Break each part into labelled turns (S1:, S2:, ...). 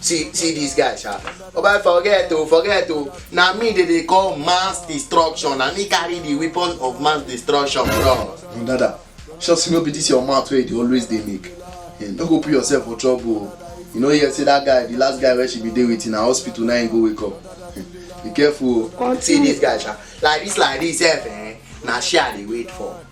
S1: see see this guy sha oba forget o forget o na me dey dey call mass destruction na me carry the weapon of mass destruction bro. no dada sure say no be this your mouth wey you dey always dey make hey, no go put yourself for trouble o you know hear say that guy the last guy wey she be dey with na hospital na him go wake up be careful o. see this guy sha like this like this sef eh na share i dey wait for.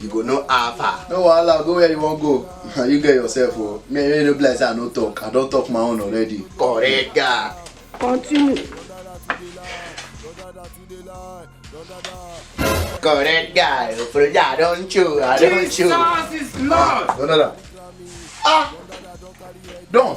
S1: you go know how far. no wahala go where you wan go na you get yourself o oh. me you no be like say i no talk i don talk my own already. correct guy. continue. correct guy oproja i don chew i don chew. jesus is lord. no no no ah don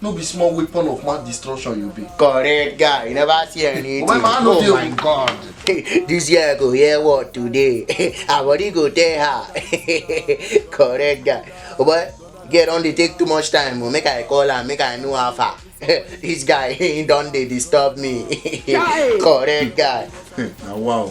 S1: no be small weapon of mass destruction you be. correct guy you never see anything. omo ma no dey oh my god. this year i go hear word today our body go tell her correct guy omo girl don dey take too much time o oh. make i call am make i know how far this guy he don dey disturb me correct guy. na wow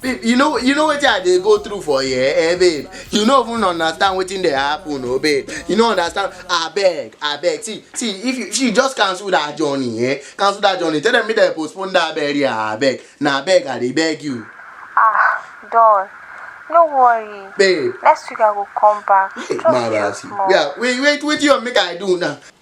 S1: babe you know you know wetin i dey go through for here eh babe you no even understand wetin dey happen o oh, babe you no understand abeg abeg see see if you see just cancel that journey eh cancel that journey tell them make dem postpone that burial abeg na abeg i dey beg you. ah don no worry babe next week i go come back hey, just wait small. yeah wait wait wetin you make i do now.